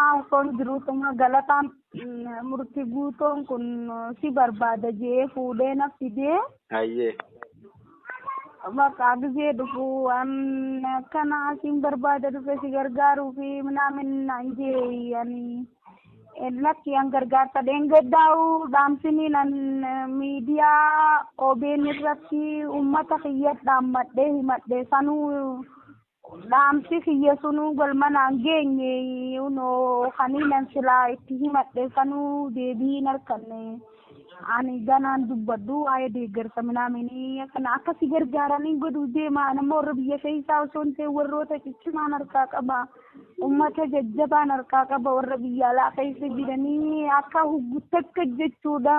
Osoon jiruutuma galataan murti guutoon kun si barbaada jee fuudhee na fidee. Hayyee. Bakka gizee dhufu waan akkana asiin barbaada dhufe si gargaaruu fi minaamin naan jee ani lakki an gargaarsa dheengaddaa'u dhaamsinii nan miidiyaa OBN irratti uummata kiyyas dhaammadhee himadhe sanuu Dhaamsi kiyya sunuu galma naan geenye. Unoo kaniinan silaa itti himadhe sanuu deebii hin arkanne. Ani ganaan dubbadhu waa'ee deeggarsa minaaminii kana akka si gargaaraniin godhuu deema. Ani immoo warra biyya keessaa osoo hin ta'in warroota ciccimaan harkaa qaba. Uummata jajjabaan harkaa qaba warra biyya alaa keessa jiranii akka huggutti akka jechuudha.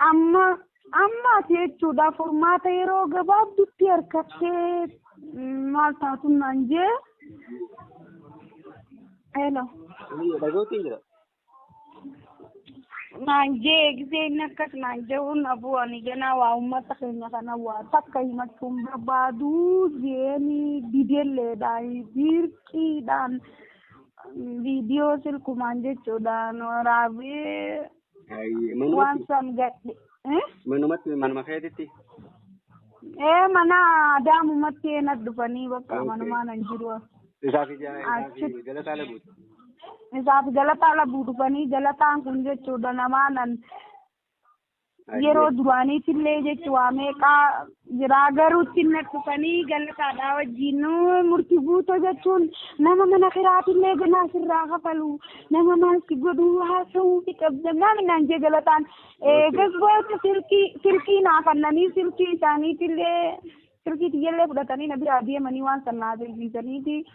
Amma Amma ati jechuudha furmaata yeroo gabaabdutti harkattee mm, maal taatun naan jee. Hello. Dhagootiin jira. Naan jee gisee inni akkas naan jehuun abuu ani ganaa waa uummata keenya kana waa takka himachuun barbaadu jeeni didelleedhaan dirqiidhaan viidiyoo silkumaan jechuudhaan waraabee Ayyee manumatti waan san gadhe eh? manumatti manuma keetitti. ee mana daamumatti eenat dhufanii bakka Okay. manumaa nan jiru Isaaf ija Achi- isaaf galataa laguuti. isaaf galataa labuu dhufanii galataan kun jechuudha namaa nan yeroo duraaniitillee jechuudha meeqaa jiraa garuu ittiin na dhufanii galataadhaa wajjin murti guuto jechuun nama mana kiraatillee ganaa sirraa kafalu nama maal si godhu haasa'uu fi qabda maali naan jee galataan gasboota silkii silkii naa kannanii silkii isaaniitillee silkii tiyyallee fudhatanii na biraa deemanii waan san naa beeksisaniiti.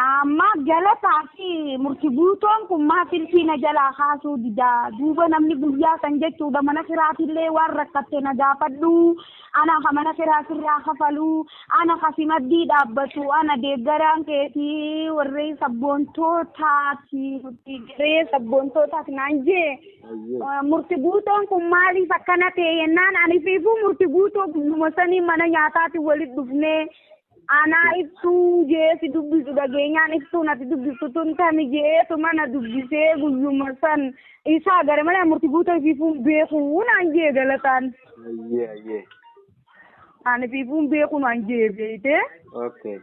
Amma galataa fi murti guutoon kun maa filfii na jalaa kaasuu didaa duuba namni guyyaa san jechuudha mana kiraatillee waan rakkatte na gaafadhu ana ka mana kiraa sirraa kafalu ana ka si maddii dhaabbatu ana deeggaraan keeti warree sabboontootaati nuti garee sabboontootaati naan jee murti guutoon kun maaliif akkana ta'e yennaan ani fiifuu murti guutoo guyyuma sanii mana nyaataati walitti dhufnee Anaa ibsuu jee si dubbisu dhageenyaan ibsuun ati dubbiftu tun tami jeetu mana dubbisee guyyuma san isaa gara mana murti guuta ifiifuun beekuu naan jee galataan. Ayyee ayyee. Ani ifiifuun beekuu naan jee beeyte. Okay.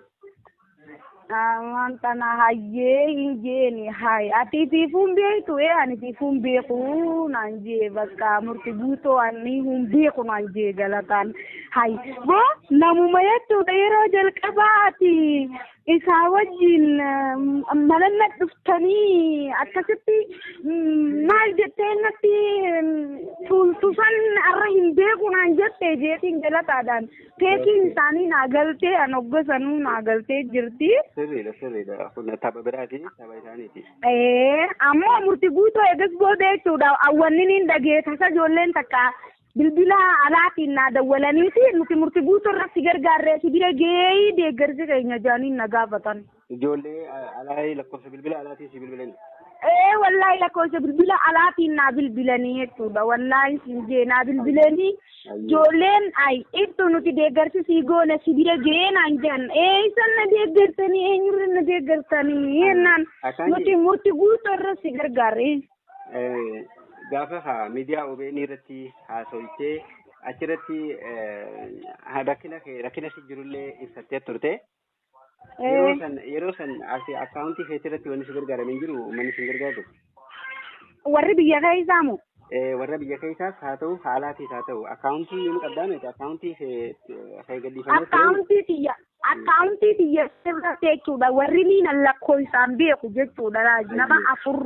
Amaan tana hayyee hin jeeni hay ati ifiifuun beektu ee ani ifiifuun beekuu naan jee bakka murti guutoo ani hin beeku naan jee galataan. Hay boo namuma jechuudha yeroo jalqabaa ati isaa wajjin mananna dhuftanii akkasitti maal jettee natti tuultusan arra hin beeku naan jette jeetiin galataadhaan teekiin isaanii naa galtee an hoggasanuu naa galtee jirti. Sirriidha sirriidha kun tapha biraati tapha isaaniiti. Ee ammoo murti guutuu eegas booda jechuudha awwanni niin dhageetasa ijoolleen takka Bilbila alaatiin naa dawwalaniiti nuti murti guutuu irratti gargaarree si bira geeyii deeggarsi keenya jaaniin na gaafatan. Ijoollee alaa lakkoofsa bilbila alaatiin si bilbilani. Ee wallaahi lakkoofsa bilbila alaatiin naa bilbilanii jechuudha wallaahi siin jee naa bilbilanii ijoolleen ay ibsu nuti deeggarsi sii goona si bira gee naan jedhan ee isan na deeggartanii eenyurra na deeggartanii jennaan nuti murti guutuu irra si gargaarree. Gaafa haa miidiyaa OBN irratti haasofte achirratti rakkina kee rakkina si jirullee ibsattee turte. Yeroo san yeroo san ati akkaawuntii keetii irratti wanni si gargaarame hin jiru uummanni si gargaaru. Warri biyya keessaa moo? Warra biyya keessaas haa ta'u haalaatiis haa ta'u akkaawuntii ni qabdaa miti akkaawuntii kee kee gadhiifamee Akkaawuntii kiyya Akkaawuntii tiyya irratti jechuudha warri miinan lakkoofsaan beeku jechuudha raaji nama Eeyyee. afur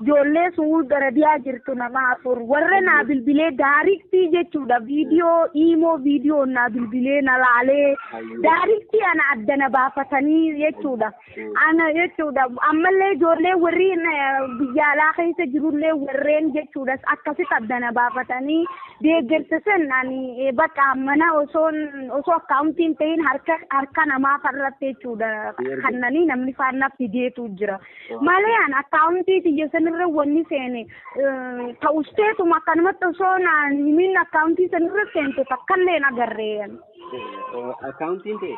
ijoollee suud arabiyaa jirtu nama afur warra naa Eeyyee. bilbilee daariktii jechuudha viidiyoo iimoo viidiyoo naa bilbilee na laalee Hayyee. daariktii ana adda na baafatanii jechuudha. Ana jechuudha ammallee ijoollee warri biyya alaa keessa jirullee warreen jechuudha akkasitti addana baafatanii deeggarsa san ani bakka mana osoo osoo akkaawuntiin ta'in harka harka namaa farratti jechuudha kannanii namni faanna fideetu jira malee an akkaawuntii tiyya sanirra wanni seene ta'usteetuma akkanumatti osoo naan himiin akkaawuntii sanirra seente takkallee hin agarree. Akkaawuntiin ta'e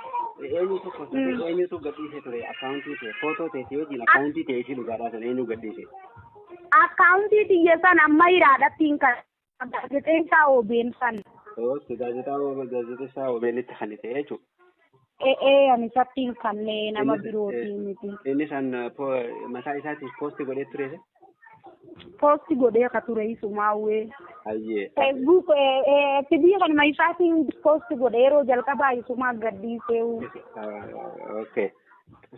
eenyu tokko Mm. eenyutu gadhiise ture akkaawuntii ta'e footoo ta'e si wajjin akkaawuntii ta'e ishii dhugaadhaa sana eenyu gadhiise. Akkaawuntii xiyya san amma hiraadhatti hin kan gaazexeessaa OBN san. Oke gaazexaa gaazexessaa OBNitti kan ta'e jechuudha. E'ee ani isatti hin kannee nama Innis- birootiin miti. Innis an po- mataa isaatiif poosti godhee ture. Poosti godhee ka ture isumaa wee. Hayyee. Facebook FB kanuma isaatiin poosti godhe yeroo jalqabaa isumaa gadhiisee. Okay.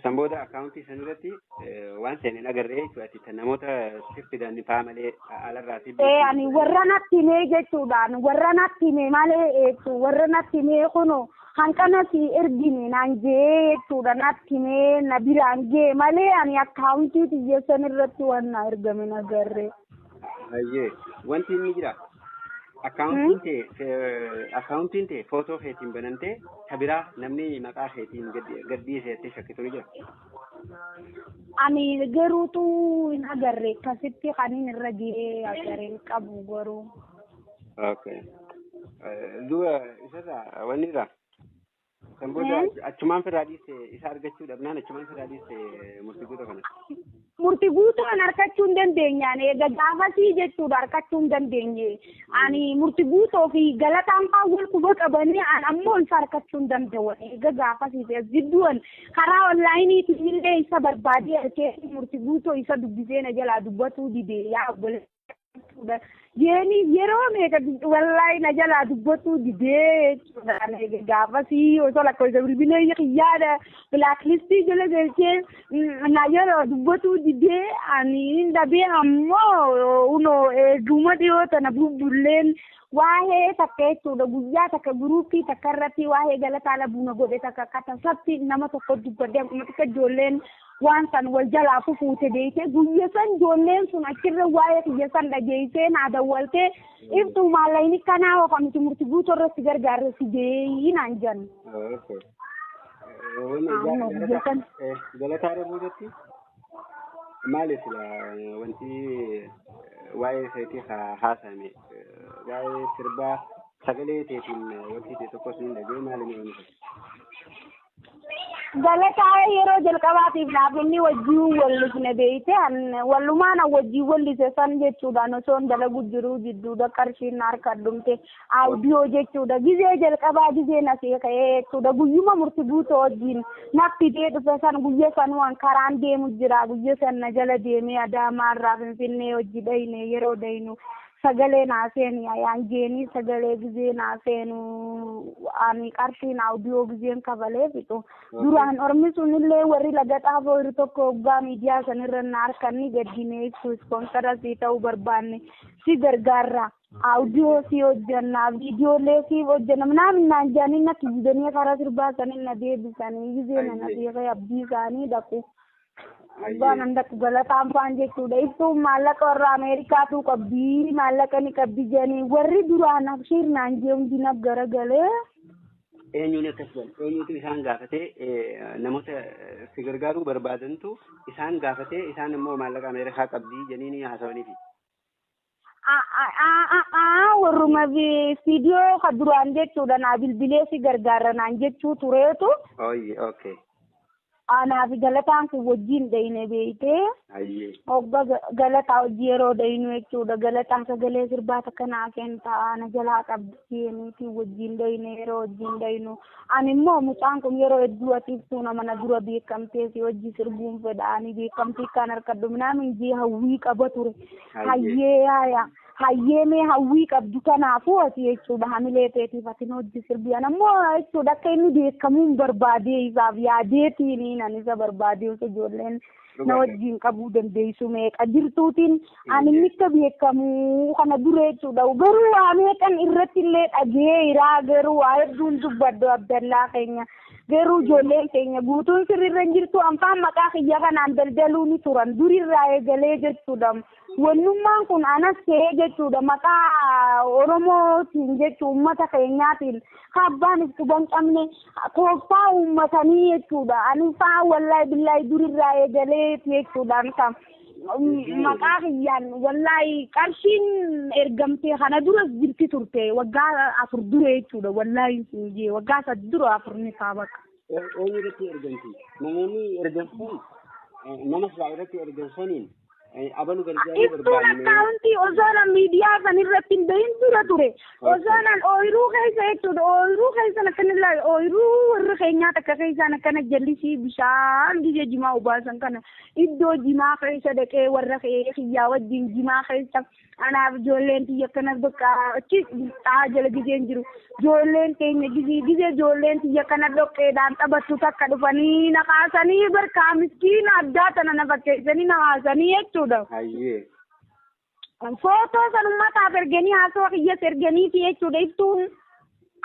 San booda akkaawuntii san irratti waan seen hin agarree jechuudha. Ati tan namoota siif fidan faa malee alarraa siif Ee ani warra natti himee jechuudhaan warra natti himee malee jechuun warra natti himee kunoo Hanqana sii ergine naan je'ee jechuudha natti himee na biraan ge'e malee ani akkaawuntii tiyya san irratti waan naa ergame hin agarre. Hayyee wanti inni jira akkaawuntiin tee fe- akkaawuntiin tee footoo keetiin banantee ta biraa namni maqaa keetiin gaddi- gadhiise jettee shakkitu ni jira. Ani garuutu hin agarre akkasitti kanin irra ge'ee agarre hin qabu garuu. Okay. Eh, Duuba isarraa wanni irraa kan booda Eh? achumaan firraa dhiiste isa argachuu dhabnaan achumaan firraa dhiiste murtii guutuu kana. murti guutuu an harkachuu hin dandeenyaan eega gaafasii jechuudha harkachuu hin dandeenye ani murti guutoo fi galataan faa wal quba qabanii an ammoo isa harkachuu hin danda'an eega gaafasii fi as jidduu an karaa onlaayiniitiin illee isa barbaadee harkee murti guutoo isa dubbisee na jalaa dubbatuu didee yaa obboleessa jechuudha. Jeeni yeroo meeqa wallaahi na jalaa dubbachuu didee jechuudha. Gaafasii osoo lakkoofsa bilbilee yaada bilaaklistii jala galchee na jalaa dubbachuu didee ani hin dhabee ammoo unoo eeguma dhiyoo tana bubbulleen waa'ee takka jechuudha guyyaa takka guruuppii takka irratti waa'ee galataa labuuna godhe takka akka tasatti nama tokko dubbadde akkuma xiqqa ijoolleen Waan san wal jalaa fufuute beeytee guyya san joolleen sun achirra waa'ee kiyya san dhageeysee naa dawwaltee iftuu maallayni kanaa hoka nuti murti guutu irra si gargaarre si jeeyi naan jan. Amma guyya san Galataa dhabuu jetti maali sila wanti waa'ee keetii haa haasa'ame waa'ee sirbaa sagalee teetiin wanti ta'e tokkos ni dhagee maali ni oomisha. Galataa yeroo jalqabaatiif dhaabinni wajjin wallifne beeyte wallumaan wajjin wallise san jechuudhaan osoon dalagu jiruu jidduudha qarshiin na harka dhumte audiyoo jechuudha gizee jalqabaa gizee na seeka'ee jechuudha guyyuma murti guutuu wajjin na fidee dhufe san guyya sanuwan karaan deemu jira guyya san na jala deemee adaamaarraa finfinnee hojii dhayne yeroo daynu sagalee naa seeni ayaan jeenii sagalee gizee naa seenu ani qarshiin audio gizeen kafalee fixu duraan ormi sunillee warri laga xaafoo irri tokko hoggaa miidiyaa sanirra na harkanni gaddinee ibsu ispoonsara sii ta'uu barbaanne si gargaarra audio sii hojjanna viidiyoolee siif hojjanna minaamin naan jaanii na kijibanii karaa sirbaa sanin na deebisanii gizee nana beekee abdii isaanii dhaqu Abbaa nan dakku galataan faan jechuudha. Ibsuun maallaqa warra Ameerikaatu qabdi maallaqa ni qabdi jedhanii warri duraan abshiir naan jee hundi naf garagalee. eenyuun akkas jedhan eenyutu isaan gaafatee eh, namoota eh, si gargaaruu barbaadantu isaan gaafatee isaan immoo maallaqa ameerikaa qabdii jedhanii haasawaniifi warruma viidiyoo ka duraan jechuudha naa bilbilee si gargaarra naan jechuu tureetu Ayyi okay. anaaf galataan kun wajjin dhayne beeytee Ayyi. hogga ga- galataa hojii yeroo dhaynu jechuudha galataa sagalee sirbaa takka naa kentaa na jalaa qabdi jeeniitiin wajjin dhayne yeroo wajjin dhaynu Ani immoo mucaan kun yeroo hedduu ati ibsuu nama na dura beekamtee si wajji sirbuun fedha ani beekamtii akkaan harkadhu minaamin jee hawwii qaba ture. Hayyee haaya hayyee mee hawwii qabdu kanaafuu ati jechuudha hamilee teetiif ati nu wajji sirbii ana immoo jechuudha akka inni beekamuun barbaadee isaaf yaadeetiini nan isa barbaadee osoo ijoolleen na wajjin qabuu dandeessu meeqa jirtuutiin ani mitta beekamu kana dura jechuudha garuu waa meeqan irratti illee dhageeyiraa garuu waa hedduun dubbaddu abdallaa keenya garuu ijoolleen keenya guutuun sirriirra hin jirtu anfaan maqaa kiyya kanaan daldaluu ni turan durirraa eegalee jechuudha Wannummaan kun anas ta'ee jechuudha maqaa Oromootiin jechu uummata keenyaatiin ka abbaan if quban qabne tooftaa uummatanii jechuudha. Ani faa wallahi billahi durirraa eegalee jechuudha ani kan maqaa kiyyaan wallahi qarshiin ergamtee kana duras jirti turte waggaa afur dura jechuudha wallahi siin jee waggaa sad dura afur ni kaa bakka. Eenyu irratti ergamti? Namoonni ergamsan nama silaa irratti ergamsaniin Abalu gargaaruu Ibsuun barbaanne. akkaawuntii osoonan miidiyaa san irratti hin bahin dura ture. Osoonan ooyiruu keessa jechuudha. Ooyiruu keessan akkana ilaali. Ooyiruu warra keenyaa takka keessaan akkana jallisii bishaan biyya jimaa obaasan kana iddoo jimaa keessa dhaqee warra kee kiyyaa wajjin jimaa keessa Anaaf ijoolleen tiyya akkana bakka achi xaa jala gizeen jiru. Ijoolleen teenya gizee gizee ijoolleen tiyya kana dhoqqeedhaan taphattu takka dhufanii na kaasanii barkaa miskiina addaa tana na fakkeessanii na kaasanii jechuudha. Hayyee. Footoo san ummataaf erganii haasawaa kiyyas erganiiti jechuudha iftuun.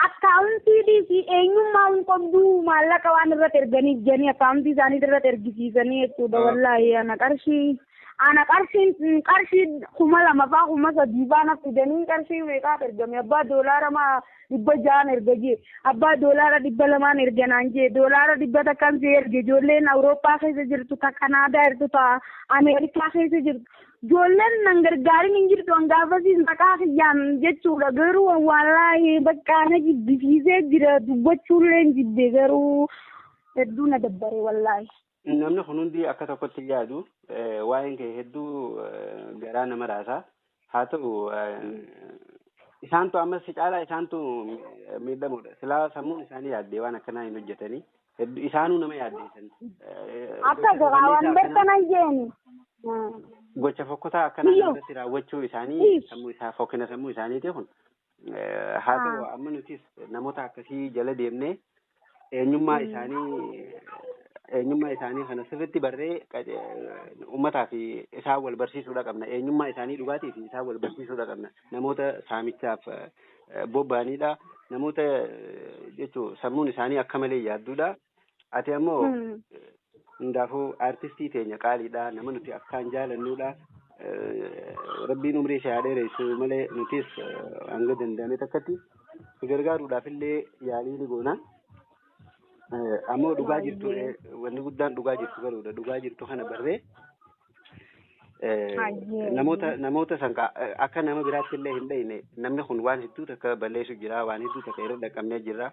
Akkaawuntii dhiisi eenyummaa hin qobdu maallaqa waan irrat erganiif jedhanii akkaawuntii isaaniit irrat ergisiisanii jechuudha wallaahi ana qarshii ana qarshiin qarshii kuma lama faa kuma sadii faa naf fidanii qarshii meeqaat ergame abbaa doolaara maa dhibba ja'aan erga jee abbaa doolaara dhibba lamaan erga naan jee doolaara dhibba takkaan si erge ijoolleen awurooppaa keessa jirtu ta kanaadaa jirtu ta ameerikaa keessa jirtu Ijoolleen nan gargaarin hin jirtu an gaafasiis maqaa kiyyaan jechuudha garuu an waallaahi baqqaa na jibbisiisee jira dubbachuullee hin jibbe garuu hedduu na dabbare wallaahi. Namni kun hundi akka tokkotti yaadu waa'een kee hedduu garaa nama raasa haa ta'u isaantu ammas si caalaa isaantu miidhamoodha silaa sammuun isaanii yaaddee waan akkanaa hin hojjetanii Heddu isaanuu nama yaaddeessan. Akka garaa waan bartan ayyeeni. Gocha fokkotaa akkanaa Biyyo. irratti raawwachuu isaanii Ish. sammuu isaa fokkina sammuu isaaniiti kun. Eh, Haa ta'u Ah. amma nutis namoota akkasii jala deemnee eenyummaa isaanii eenyummaa isaanii kana sirriitti barree qaje- uummataa fi isaan wal barsiisuudha qabna. Eenyummaa isaanii dhugaatii fi isaan wal barsiisuudha qabna. namoota saamichaaf bobba'aniidha. Namoota jechuun sammuun isaanii akka malee yaadduudha. Ati ammoo hundaafuu aartistii teenya qaaliidha. Nama nuti akkaan jaalannuudha. Rabbiin umrii ishee haa dheeressu malee nutis hanga danda'ame takkatti si gargaaruudhaaf illee yaalii ni goona. Ammoo dhugaa jirtu wanni guddaan dhugaa jirtu baruudha. Dhugaa jirtu kana barree Eh, Hayyee. namoota namoota san ka- eh, akka nama biraatti illee hin dhayne namni kun waan hedduu takka balleessu jira waan hedduu takka irra dhaqqabnee jirra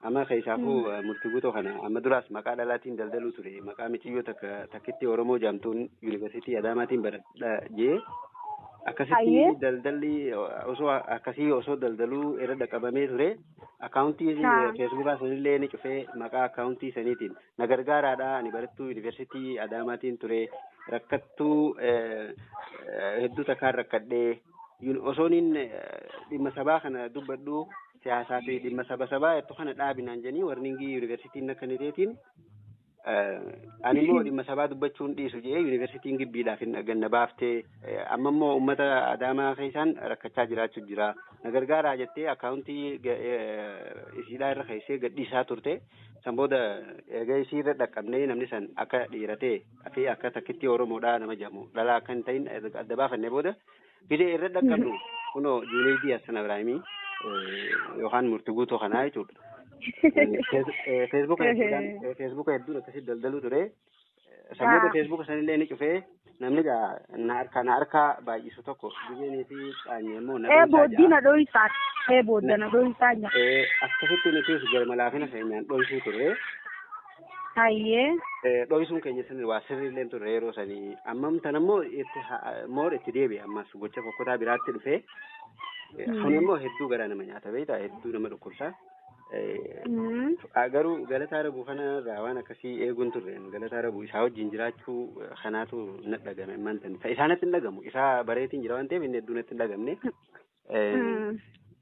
amma keessaafuu eh, murtii guutoo kana amma duraas maqaa dhalaatiin daldaluu ture maqaa miciyyoo takka takkitti oromoo jaamtuun yuunivarsiitii adaamaatiin baradha jee akkasitti Hayyee. daldalli eh, osoo akkasii osoo daldaluu irra dhaqqabamee ture akkaawuntii Haa. feesbuukaa sanillee ni cufee maqaa akkaawuntii saniitiin na gargaaraa dha. Ani barattuu yuunivarsiitii Adaamaatiin ture. Rakkattuu hedduu takkaan rakkadhee osooniin dhimma sabaa kana dubbadhu siyaasaa fi dhimma saba sabaa jettu kana dhaabinaan jedhanii warningii yuunivarsiitiin na kenniteetiin ani immoo dhimma sabaa dubbachuun dhiisu jedhee yuunivarsiitiin gibbiidhaaf hin ganna baaftee amma immoo uummata Adaamaa keessaan rakkachaa jiraachuu jira. Na gargaaraa jettee akkaawuntii isiidhaa irra keessee gadhiisaa turte. San booda eega isii irra dhaqqabnee namni san akka dhiira ta'e fi akka takkittii Oromoodhaa nama jedhamu dhalaa akka hin ta'in erga adda baafannee booda bile irra dhaqqabnu kunoo Juneeydii Hassan Abiraahimii yookaan murti guutuu kanaa jechuudha. Feesbuuka hedduudhaan feesbuuka hedduun akkasitti daldaluu ture. Sammuu Yaa. feesbuuka sanillee ni cufee namni gaa na harkaa na harkaa baay'isu tokko gizeenii fi dhaanyee immoo na Ee dhoysaa booddii ja'a. na dhoysaa. Ee boodda na dhoysaa jira. Ee, Akkasitti nutis garma laafina keenyaan dhoysuu turre. Hayyee. Ee, Dhoysuun keenya sun waa sirrii illee turre yeroo sanii. Ammam tan ammoo itti ha- moor itti deebi'e ammas gocha fokkotaa biraatti dhufee. Ee, Kun immoo hedduu garaa nama nyaata beektaa hedduu nama dhukkubsa. Garuu galataa rabuu kana irraa waan akkasii eeguun turre galataa rabuu isaa wajjin jiraachuu kanaatu na dhagame ammaan tan isa isaanatti hin dhagamu isaa bareetiin jira waan ta'eef inni hedduu natti hin dhagamne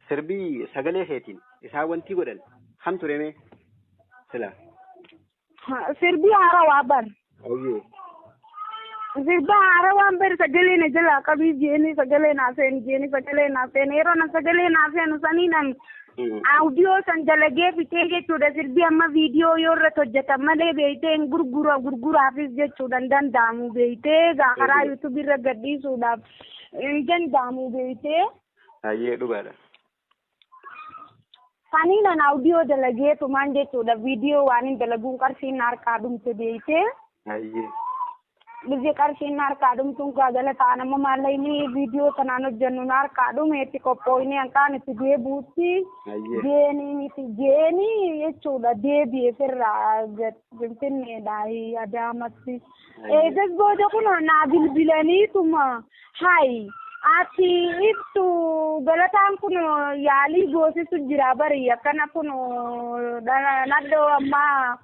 sirbii sagalee keetiin isaa wantii godhan kam turemee silaa. Sirbii haarawaa bar. Ayyee. Sirba haarawaan bar sagalee na jalaa qabii jeeni sagalee naa seeni jeeni sagalee naa seeni yeroo na sagalee naa seenu saniidhaan audio san dalagee fixee jechuudha sirbi amma viidiyoo yoo irratti hojjetan malee beektee hin gurgura gurguraafis jechuudha hin danda'amu beektee gaa karaa yuutuubii irra gadhiisuudhaaf hin danda'amu beektee. Ayyee dhugaadha. Kanii nan audio dalagee tumaan jechuudha viidiyoo waan hin dalaguun qarshiin na harkaa dhumte beeytee Ayyee. biyyi qarshiin na harkaa dhumtuun kaa jala ta'an amma maallaqni viidiyoo sanaan hojjennu na harkaa dhume itti qophooyne hanqaan itti deebuutti Ayyee. deemii miti deemii jechuudha deebi'e firraa finfinneedhaa adaamatti. Eegas booda kun naa bilbilaniituma. Hayi ati ibsu galataan kun yaalii goosisu jira bari akkana kun nadhoo ammaa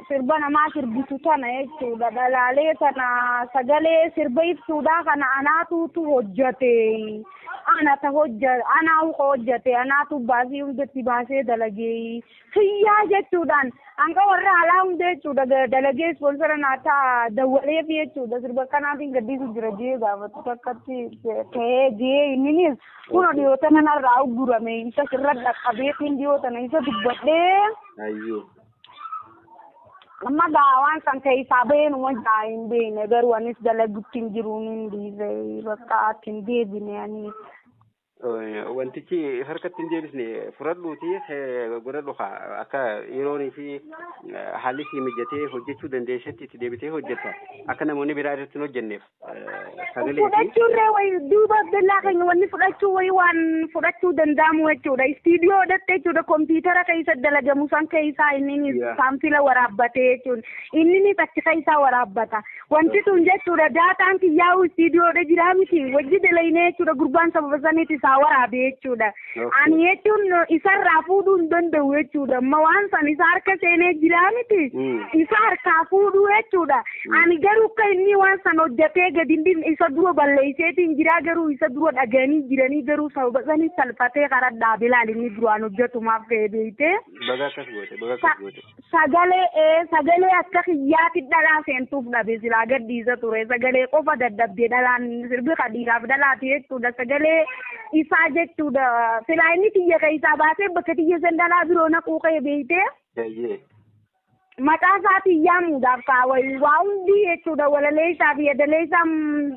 sirba namaa sirbitu tana jechuudha dhalaalee tana sagalee sirba ibsuudhaa kana anaatuutu hojjate anata hojja anaa uka hojjate anaatu baasii hundatti baasee dalagee kiyyaa jechuudhaan hanga warra alaa hunda jechuudha dalagee ispoonsara naa ta'a dawwaleef jechuudha sirba kanaatiin gaddiisu jira jee gaafatu takkatti ta'ee jee inninis kun dhiyoota nana irraa uggurame isa sirra dhaqqabeetiin dhiyoota na isa dubbadhee Ayyee. amma gaa waan san keessaa baheen uma jaa hin beekne garuu anis dalagutti hin jiruun hin dhiise bakka atti hin deebine anis. Wantichi harkatti hin deebisne fudhadhuuti godhadhu akka yeroonii fi haalli sii mijatee hojjechuu dandeessetti itti deebitee hojjetta. Akka namoonni biraa irratti hin hojjenneef sagalee fi fudhachuurree wayi duuba bellaa keenya wanni fudhachuu wayi waan fudhachuu danda'amu jechuudha. Istiidiyoo hidhatte jechuudha kompiitara keessa dalagamu san keessaa inni Yaa. saanfila waraabbatee jechuudha. Inni achi keessaa waraabbata. Wanti tun jechuudha daataan kiyyaa'uu istiidiyoodha jiraa miti wajji dalaynee jechuudha gurbaan sababa saniiti isaa waraabe jechuudha. Ani jechuun isarraa fuudhuu hin danda'u jechuudha amma waan san isa harka seenee jiraa miti isa harkaa fuudhuu jechuudha. Ani garuu akka inni waan san hojjatee gadi hin dhifne isa dura balleesseetiin jiraa garuu isa dura dhaganii jiranii garuu sababa sanii salphatee karaa dhaabe laal inni duraan hojjatumaaf ka'ee beeytee. Baga akkas goote, baga akkas goote. Sagalee ee sagalee akka kiyyaati dhalaa seentuuf dhabe silaa gadhiisa ture sagalee qofa dadhabde dhalaan sirbi ka dhiiraaf dhalaati jechuudha sagalee isaa jechuudha silaa inni tiyya keessaa baasee bakka tiyya san dhalaa biroo naquu kee beeytee Eeyyee. mataa isaatiin yaamuudhaaf kaa waa hundi jechuudha walalee isaa fi yadalee isaa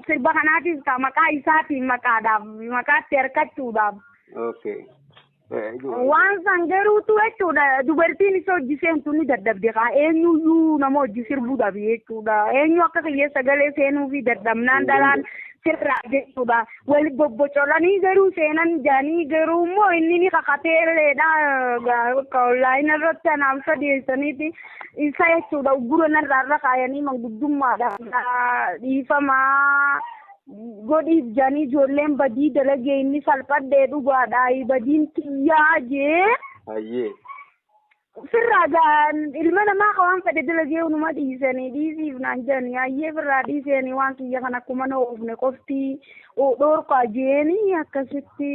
sirba kanaatiif kaa maqaa isaatiin maqaadhaaf maqaatti harkachuudhaaf. Okay. Waan san garuutu jechuudha dubartiin isa hojii seentu ni dadhabde kaa eenyuyyuu nama hojii sirbuu dhabe jechuudha eenyu akka kiyya sagalee seenuu fi dadhabnaan dhalaan sirraa jechuudha. Wal bobbocolanii garuu seenan jaanii garuu immoo inni ni kakateelleedha bakka online irratti anaaf sadeessaniiti isa jechuudha uggura narraa irra kaayanii manguddummaadha dhiifamaa godhiif jaanii ijoolleen badii dalagee inni salphadhee dhugaadha badiin tiyyaa jee. Hayyee. Firraa gaa ilma namaa ka waan fedhe dalagee unuma dhiisanii dhiisiif naan jedhanii hayyee firraa dhiisanii waan kiyya kan akkuma na oofne qofti dhoorkaa jeeni akkasitti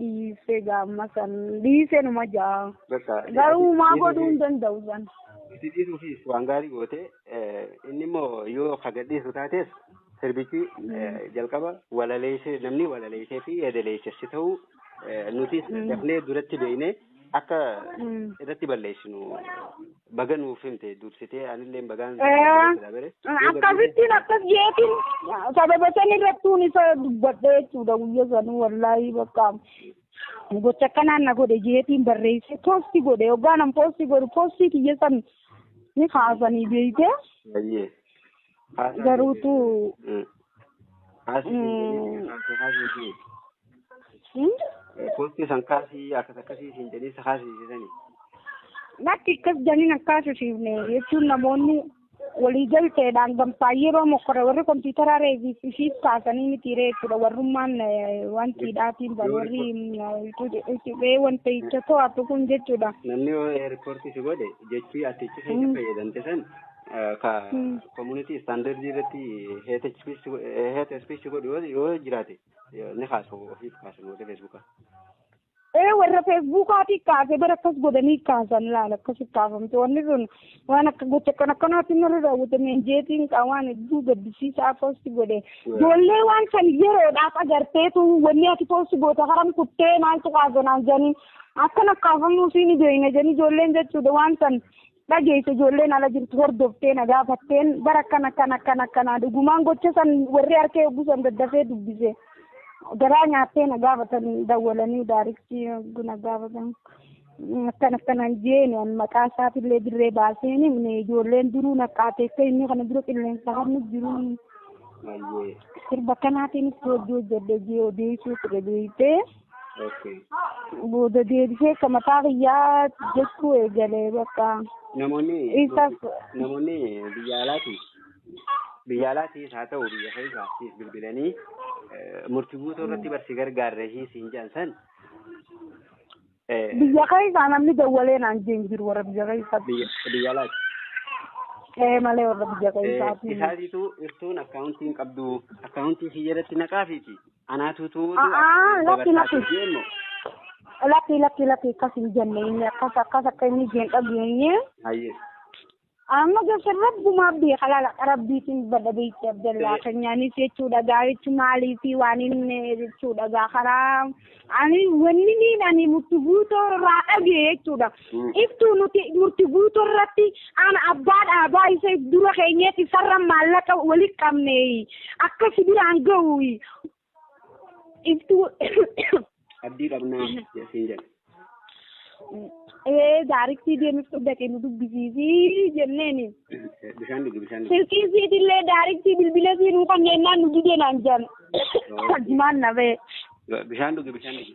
dhiise gaamma san dhiise numa ja'a. Bakka Garuu maa godhuu hin danda'u san. itti dhiisuufis waan gaarii goote eh, inni immoo yoo ka gadhiisu taates sirbichi eh, jalqaba walaleessee namni walaleessee fi yadaleessessi ta'uu eh, nutis dafnee duratti beeknee akka Mm. irratti balleessinu baga nuuf himte dursitee anillee bagaan Eh. sila bere akkasittiin akkas jeetiin sababa san irrattuun isa dubbadhe jechuudha guyya sanuu wallaahii bakka gocha akkanaan na godhe jeetiin barreesse poosti godhe hoggaan an poosti godhu poostii kiyya san ni kaasanii beeyte baay'ee Haasaan Garuutu hin haasaan hin jedhin haasaan haasaan hin hmm? Koottii san kaasii akkas akkasii siin jedhee si haasisisani. lakki akkas janiin akkaasisiifne jechuun namoonni walii galteedhaan gamtaa yeroo mokkore warri kompiitaraa reeviif ishiif kaasanii miti ree jechuudha warrummaan eh, wantiidhaatiin bal warri qubee wanta hicha to'atu kun jechuudha. Namni yoo eerpoortii si godhe jechii ati itti keessa fayyadamte san ka community standard irratti hate speech hate speech godhu yoo yoo jiraate yoo- ni kaasu ofiif kaasu warri Facebook. ee warra feesbuukaati kaase bara akkas godhanii kaasan laala akkas kaafamte wanni sun waan akka gocha kan akkanaatti narra raawwatame jeetiin qaa waan hedduu gaddisiisaa poosti godhe ijoollee waan san yeroodhaaf agarteetu wanni ati poosti goote haram kuttee maaltu kaasanaan jedhanii akkan akkaafamuu siin beeyne jedhanii ijoolleen jechuudha waan san dhageesse ijoolleen ala jirtu hordoftee na gaafatteen bara akkana akkana akkana akkanaa dhugumaan gocha san warri harkee yogguu san daddafee dubbise garaa nyaattee na gaafatan dawwalanii daariktii yogguu na gaafatan akkana akkanaan jeeni an maqaa isaatiillee dirree baaseen himne ijoolleen duruu naqqaateessee inni kana dura qilleensa harnu jiruu Ayyee. sirba kanaatiinis hojii hojjedhe jee odeessuu ture beektee. Okay. booda deebisee akka mataa kiyyaa jechuu eegale bakka Namoonni isaaf namoonni biyya alaatiif biyya alaatiif haa ta'u biyya keessaatiif bilbilanii eh, murtii guutuu irratti barsi gargaarre hin siin jedhan san eh, biyya keessaa namni dawwalee naan jee hin jiru warra biyya keessaatti biyya biyya alaati. ee malee warra biyya Eh, keessaatti Isaatiitu irtuun akkaawuntii hin qabdu akkaawuntii kiyya irratti naqaafiiti. Anaa tuutuutu A'aa, lakki, lakki. dabarsaati jeemmo. Lakki lakki lakki akkas hin jenne inni akkas akkas akka inni jeen dhageenye. Hayyee. Amma gosa rabbumaa beeka laala rabbiitiin badha beekti abdallaa Ee. keenyaanis jechuudha gaa jechu maalii fi waan inni jechuudha gaa karaa ani wanni niin ani mutti guutoo irraa dhagee jechuudha Iftuu nuti murti guutu irratti ana abbaa dhaabaa isa if dura keenyeet isarra maallaqa wali qabne akka si biraan ga'u iftuu Abdii qabnaa siin jedhe. ee daariktii deemiftuu dhaqee nu dubbisiisii jenneeni. Bishaan dhugi bishaan dhugi. Silkii siitillee daariktii bilbila sii nuu kanneenyaan nu dideenaan jedhan. Jimaan nafee. Bishaan dhugi bishaan dhugi.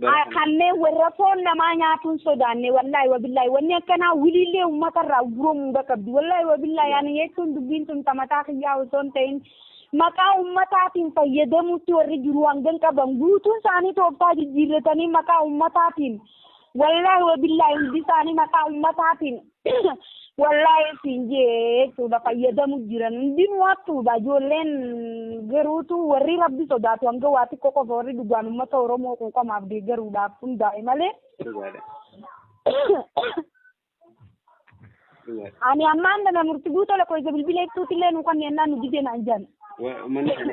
Bara kana- kanneen warra foon namaa nyaatuun sodaanne wallaahi wabillaahi wanni akkanaa wiliillee uummata irraa guromuu qabdi wallaahi wabillaahi ani jechuun dubbiin tun tamataa kiyyaa osoo hin ta'in maqaa uummataatiin fayyadamuutti warri jiru hangan qaban guutuun isaanii tooftaa jijjiirratanii maqaa uummataatiin wallaahi wabillaahi hundi isaanii maqaa uummataatiin Wallaahi siin jechuudha fayyadamu jiran hundinuu hattuudha ijoolleen garuutu warri rabbi sodaatu hanga waa xiqqoo qofa warri dhugaan uummata Oromoo quuqamaaf deeggaruudhaaf hundaa'e malee Dhugaadha. Dhugaadha. ani ammaan dana murti guuta lakkoofsa bilbila ibsuutillee nu kanneen naan nu didee naan jedhan. Wa- Uummanni kana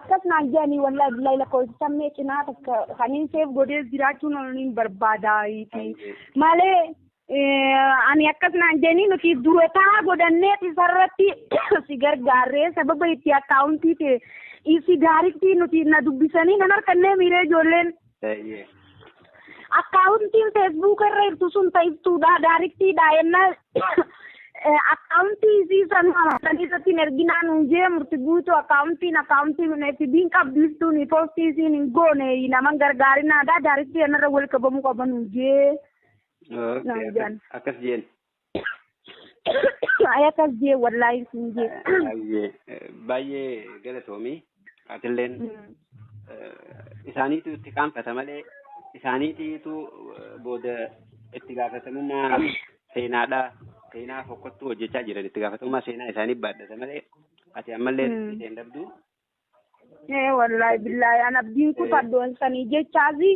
akkas naan jedhanii wallaahi billahi lakkoofsisan mee cinaa takka kaniin seef godhees jiraachuun oniin barbaadaayiiti malee eh, ani akkas naan jedhanii nuti durotaa godhannee isarratti si gargaarree sababa itti akkaawuntii ta'e isi daarittii nuti na dubbisanii nan harkannee miiree ijoolleen Eeyyee. Akkaawuntiin feesbuuka irra jirtu sun ta iftuudha daariktiidha yenna akkaawuntii isii san san irratti hin erginaa nuun jee murti guutuu akkaawuntiin akkaawuntii kun FB'n qabdu iftuun poostii isiin hin goone naman gargaarinaadha daariktii yennarra wal qabamuu qaba nuun jee Okay, naan akkas- jedhan. akkas jeen. Ay akkas jee wallaahi siin jee. Baay'ee baay'ee galatoomi. Atilleen isaaniitu itti qaanfata malee isaaniitiitu booda itti gaafatamummaa seenaadha. Seenaa fokkottuu hojjechaa jiran itti gaafatamummaa seenaa isaanii baadhata malee ati ammallee itti hin dhabdu. Ee wallahi billahi an abdiin kutadhu sanii jechaasi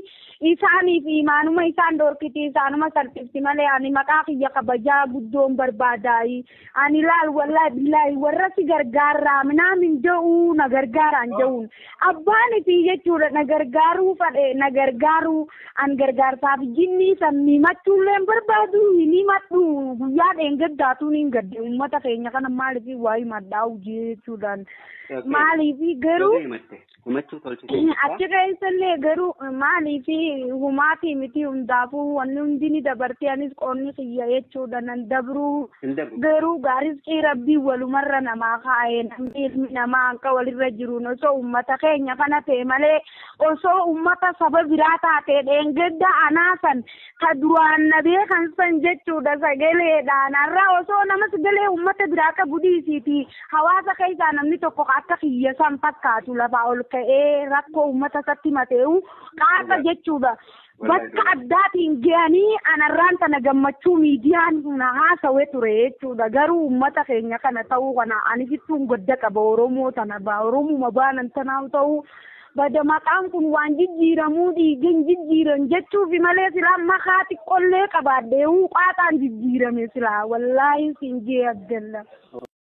isaaniif imaanuma isaan dhorkiti isaanuma salphifti malee ani maqaa kiyya kabajaa guddoon barbaadaayi ani laal wallahi billahi warra si gargaarraa minaa min ja'uu na gargaaraan ja'uun abbaan itii jechuudha na gargaaruu fadhe na gargaaruu an gargaarsaaf jinnii san mimachuulleen barbaadu hin himadhu guyyaa dheengaddaatuun hin gadde ummata keenya kana maaliif waa himadhaa hojii jechuudhaan maaliifi garuu himachuu tolchitee jirta. achi keessallee garuu maaliifi humaatii miti hundaafuu wanni hundi ni dabartee anis qoonni kiyya jechuudha nan dabruu Hin dabru. garuu gaarizqii rabbii walumarra namaa kaa'e namni ilmi namaa hanqa walirra jiruun osoo ummata keenya kana ta'e malee osoo ummata saba biraa taatee dheengadda anaasan ka duraan na beekan san jechuudha sagaleedhaan har'a osoo nama sagalee uummata biraa qabu dhiisiiti hawaasa keessaa namni tokko ka akka kiyya san fakkaatu lafaa ol ka'ee rakkoo uummata isatti himatee'u qaasa jechuudha. Bakka addaatiin ga'anii anarraan tana gammachuu miidiyaan na haasawe ture jechuudha. Garuu uummata keenya kana ta'uu kana ani fittuun gadda qaba Oromoo tana ba Oromuma baanan tanaa ta'uu Bada maqaan kun waan jijjiiramuu dhiigin jijjiiran jechuufi malee silaa makaa xiqqollee qabaadheeuu qaaxaan jijjiirame silaa wallaahi siin jee abdalla.